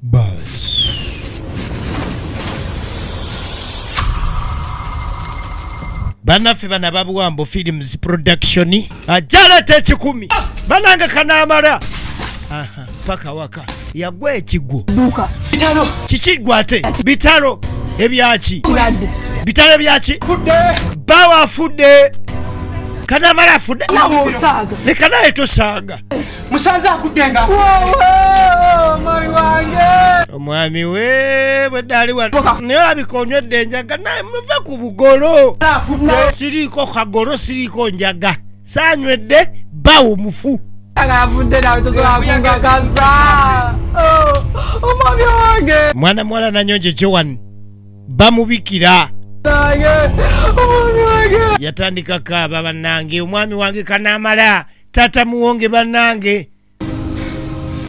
Buzz. banaffe bana babuwambo films production ajaleta ekikumi banange kanamala paka waka yagwa ekigwo kiki gwate bitalo ebyaki bitalo ebyaki bawa afudde kanamala afudde lekanaye tosaaga musanze agudde nga omwami we bweddaali wano naye olabika onywedde enjaga naye muve ku bugolo siriiko kagolo siriiko njaga saanywedde bawo mufu mwana muwala nanyonja ekyowani bamubikira yatandika kaaba banange omwami wange kanamala tata muwonge banange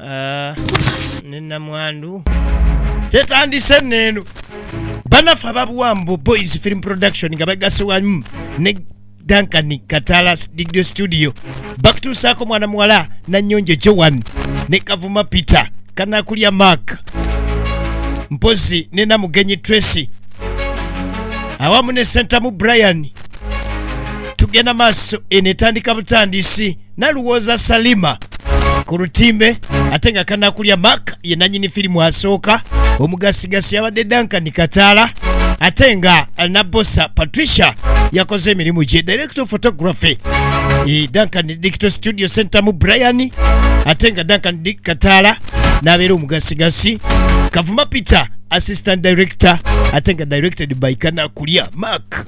ah, ne namwandu tetandise neeno banafe ababuwambo boys film production nga bagase wamu ne duncan katala digdo studio bakutuusaako mwana muwala nanyonjo joan ne kavuma peter kanakulya mark mpozi ne namugenyi tracy awamu ne sentamu brian tugenda maaso eno etandika butandisi naluwooza salima ku lutimbe ate nga kanakulya mak ye nanyini firimu asooka omugasigasi yabadde dankani kataala ate nga nabosa patricia yakoze emirimu gye director of photography e, duncan dicto studio center mu brian ate nga duncan dick kataala n'abeera omugasigasi kavuma peter assistant director ate nga directed by kanakulya mark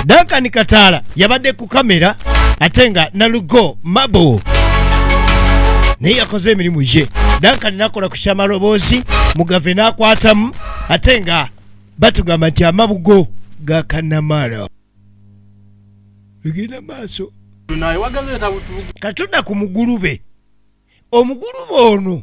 Duncan Kataala yabadde ku kamera ate nga Nalugo Mabo naye yakoze emirimu gye Duncan nakola ku kyamaloboozi Mugave n'akwatamu ate nga batugamba nti amabugo ga Kanamara egenda maaso katudda ku mugulube omugulube ono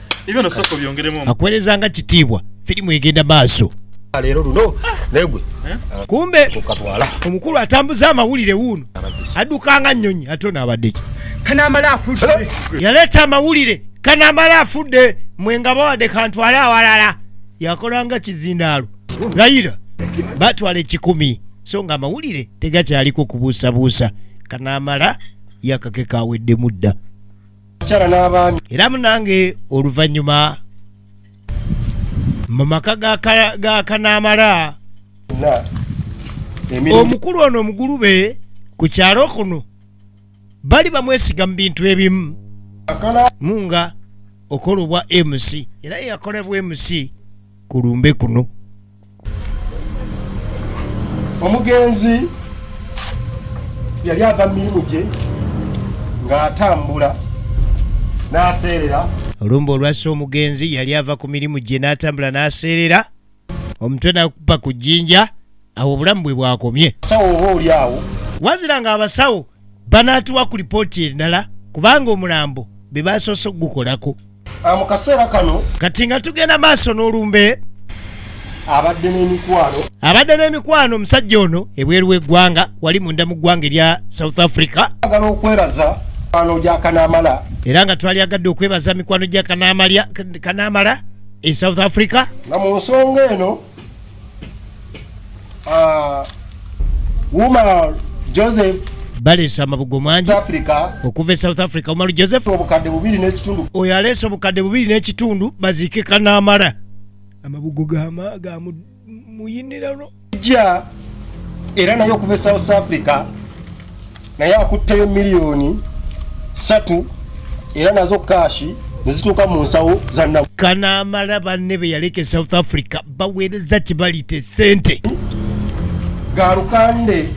ibyo nosoko byongeremo akuwereza nga kitiibwa filimu egenda maaso leero luno negwe eh? kumbe kukatwala omukulu atambuza amawulire wuuno addukanga nnyonyi ate onaabadeki kanamala afudde eh? yaleeta amawulire kanamala afudde mwe nga bawadde kantwale awalala yakolanga kizindaalo layira batwala ekikumi so nga amawulire tegakyaliko kubuusabuusa kanamala yakakeka aweddemu dda abakyala n'abaami era munange oluvannyuma mu maka ga kanaamala omukulu ono omugulube ku kyalo kuno bali bamwesiga mu bintu ebimu munga okola obwa mc era yakolebwa mc ku lumbe kuno omugenzi yali ava mu mirimu gye ng'atambula n'aseerera olumba olwasa omugenzi yali ava ku mirimu gye n'atambula n'aseerera omutwe nakuba ku jjinja awo obulamu bwe bwakomye sawo oba oli awo wazira nga abasawo banaatuwa ku lipooti endala kubanga omulambo be basoose okugukolako Ah, mu kaseera kano kati nga tugenda maaso n'olumbe abadde n'emikwano abadde n'emikwano omusajja ono ebweru w'eggwanga wali munda mu ggwanga erya south africa agala okwebaza mikwano gya kanaamala era nga twali agadde okwebaza mikwano gya kanaamala e south africa nga mu nsonga eno uh, Umar Joseph baleese amabugo mangi okuva e south africa umaru joseph oyo aleese obukadde bubiri n'ekitundu baziike kanaamala amabugo gamuyinirano ja era naye okuva e south africa naye akutteyo miliyoni satu era nazo kaashi nezituuka mu nsawo zanna kanaamala banne be yaleka e south africa baweereza kibalite sente galukande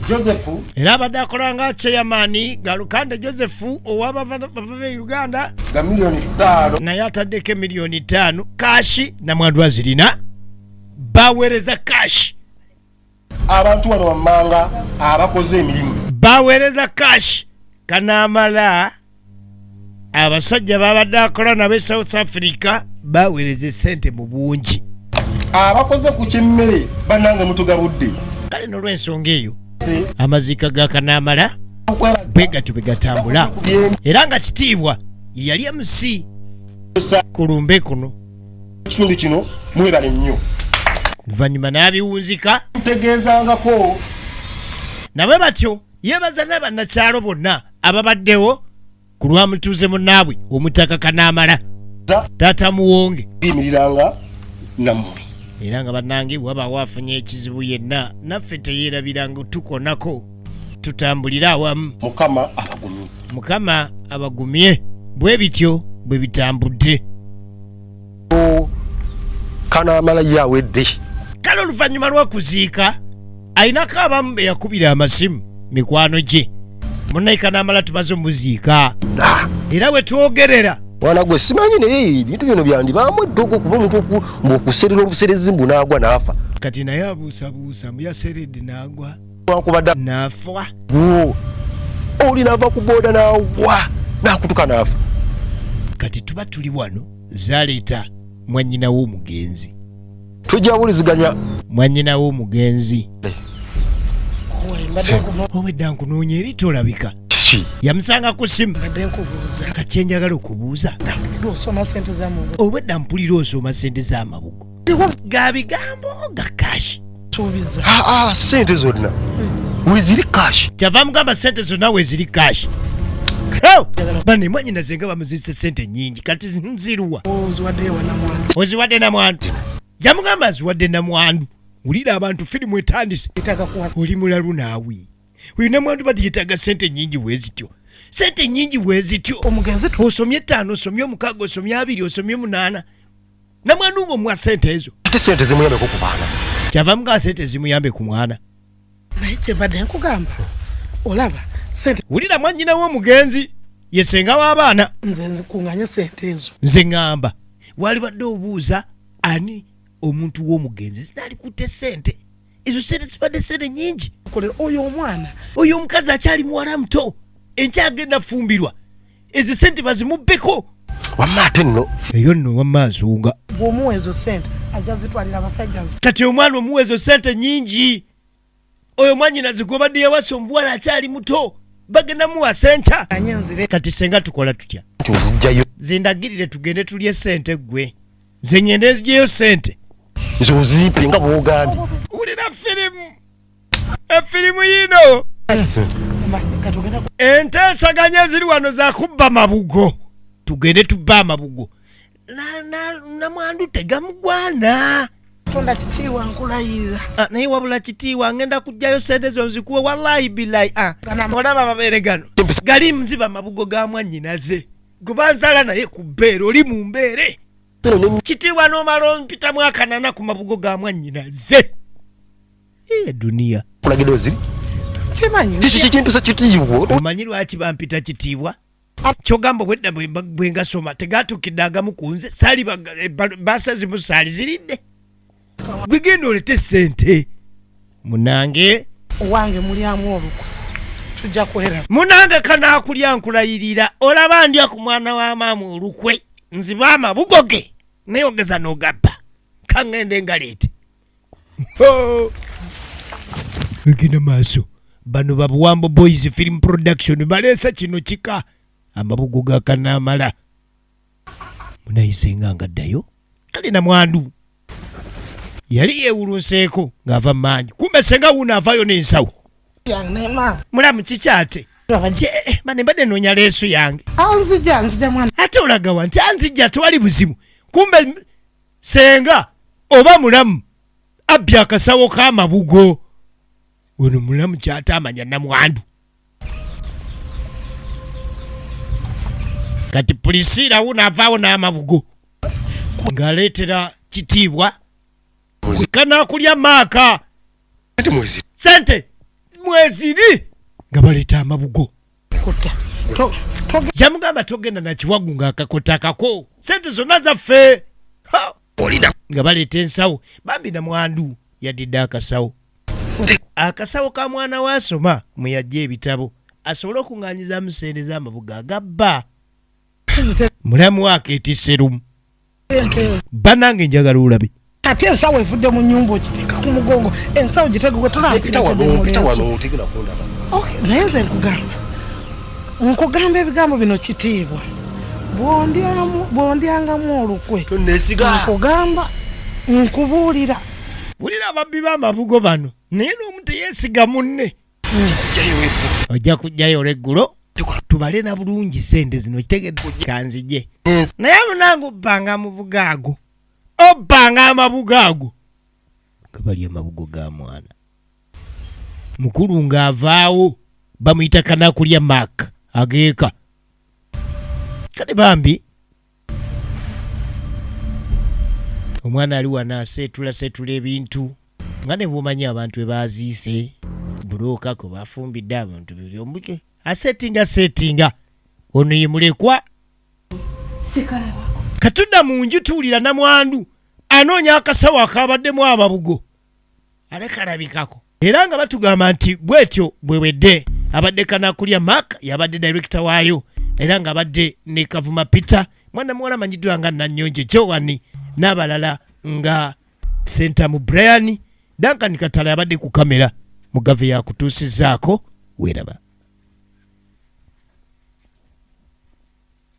josephu era abadde akola nga cheyamani galukande josephu owabava e uganda nga miliyoni ttaano naye ataddeko emiliyoni ttaano kaashi namwandu azirina baweereza kaashi abantu wano wammanga abakoze emirimu baweereza cash kanaamala abasajja babadde akola nabo e south africa baweereza esente mu bungi abakoze ku kyemmere bannange mutugabudde kale nolwensonga eyo amaziika ga kanaamala bwe gatyo bwe gatambula era nga kitiibwa yeyali mc ku lumbe kuno kitundu kino mwebale nnyo luvannyuma n'abiwunzika tutegeezangako nabwe batyo yeebaza n'abannakyalo bonna ababaddewo ku lwa mutuuze munnaabwe omutaka kanaamala taata muwonge imiriranga nammwe era nga bannange wabaawo afunye ekizibu yenna naffe teyeerabiranga tukonako tutambulire awamu mukama abagumye mukama abagumye bwe bityo bwe bitambudde kanaamala ye awedde kale oluvannyuma lw'okuziika alinako abamu be yakubira amasimu mikwano gye munaye kanaamala tumaze omuziika ah. era we twogerera mwana gwe simanyi naye ebintu bino byandibaamu eddogo kuba omuntu okuserera obuserezi mbu naagwa naafa kati naye abuusabuusa mbu yaseredde naagwa wankubadde nafa oli nava ku booda nawa nakutuka nafa kati tuba tuli wano zaleeta mwanyina w'omugenzi tujja wuliziganya mwanyina w'omugenzi obwedda nkunoonya eri tolabika yamusanga ku simu kati enjagala okubuuza obwedda mpulira osoma sente z'amabugo ga bigambo ga kash ah, ah, sente zonna weziri kash kyava mugamba sente zonna weziri kash bane mwanyina zenga bamuzise sente nyingi kati nziruwa oziwadde namwandu jamugamba aziwadde namwandu wulira abantu firimu etandise oli mulalu naawe oyo namwandu bati yetaaga sente nyingi wezityo sente nyingi wezityo osomye ettaano osomye omukaaga osomye abiri osomye omunaana namwana umu omuwa sente ezo ate sente zimuyambeko ku baana kyava mugaa sente zimuyambe ku mwana naye kyembadde nkugamba olaba sente wulira mwanyina womugenzi yesenga w'abaana nze nkunganye sente ezo nze ŋŋamba walibadde obuuza ani omuntu w'omugenzi zinalikutte sente ezo sente zibadde sente nyingi kolera oyo omwana oyo omukazi akyali muwala muto enkya agenda fumbirwa ezo sente bazimubbeko wamma ate nno eyo nno wamma azunga gwomuwa ezo sente ajja zitwalira abasajja kati omwana omuwa ezo sente nyingi oyo mwanyina zigobadde yawasa omuwala akyali muto bagenda muwa senca kati senga tukola tutya zindagirire tugende tulye sente gwe nze ngende nzijeyo sente nze ozipe nga bwogambye wulira firimu efirimu yino enteesaganya eziri wano zakubba mabugo tugende tubba amabugo namwandu tegamugwana tonda kitiiwa nkulayirira ah, naye wabula kitiiwa ngenda kujjayo sente zo nzikuwe walayi bilayi ah, olaba amabeere gano gali mziba mabugo ga mwanyinaze gwebanzala naye ku bbeere oli mu mbeere kitiibwa n'omala ompitamu akanana ku mabugo ga mwannyina ze eduniya kulagidwa ziri ekyo kyekimpisa kitiibwa omanyi lwaki bampita kitiibwa kyogamba obwedda bwengasoma tegatukidde agamu ku nze saali eh, baasa zimu saali ziridde gwe genda olete sente munange owange mulyamu olukwe tujja kwera munange kanakulya nkulayirira olaba ndya ku mwana wa maama olukwe nziba amabugo ge naye ogeza n'ogabba kaŋŋende nga leete egenda maaso bano babuwambo boys film production baleesa kino kika amabugo gakanaamala munayisenga nga ddayo kale na mwandu yali yewulunseeko ng'ava mu maanyi kumbe senga wuuno avaayo n'ensawo mulamu kikyate eh, mane mbadde noonya leesu yange ate olagawa nti anzijja tewali buzibu kumbe senga oba mulamu abbye akasawo k'amabugo ono mulamu kyataamanya namwandu kati pulisiira wuno avaawo n'amabugo ng'aleetera kitiibwa kanakulya maaka sente mweziri nga baleeta amabugo kyamugamba togenda nakiwagu nga akakota akako sente zonna zaffe nga baleeta ensawo bambi namwandu yadidde akasawo akasawo ka mwana we asoma mwe yajja ebitabo asobole okuŋŋanyizamu sente z'amabuga agabba mulamu wake etiserumu banange njagala olabe ate ensawo evudde mu nyumba okiteeka ku mugongo ensawo gitegegotonaye nze nkugamba nkugamba ebigambo bino kitiibwa bwondyangamu olukwe nkugamba nkubuulira wulira ababbi b'amabugo bano naye n'omu teyesiga munne ojja kujjayo olweggulo tubale na bulungi sente zino kitegedde kanzije naye munange obbanga amabuga ago obbanga amabuga ago nga bali amabugo ga mwana mukulu ng'avaawo bamuyita kanakulya mak ageeka kale bambi omwana ali wano aseetula seetula ebintu nga ne bwomanyi abantu ebaaziise bulookako bafumbidde abantu buli omuke aseetinga seetinga ono ye mulekwa katudda mu nju tuwulira namwandu anoonya akasawo akabaddemu amabugo ale kalabikako era nga batugamba nti bwetyo bwewedde abadde kanakulya mark yabadde direkita waayo era nga abadde ne kavuma peter mwana muwala amanyiddwa nga nanyonje jowani n'abalala nga sentamu brian duncan katala yabadde ku kamera mugave yakutuusizaako weeraba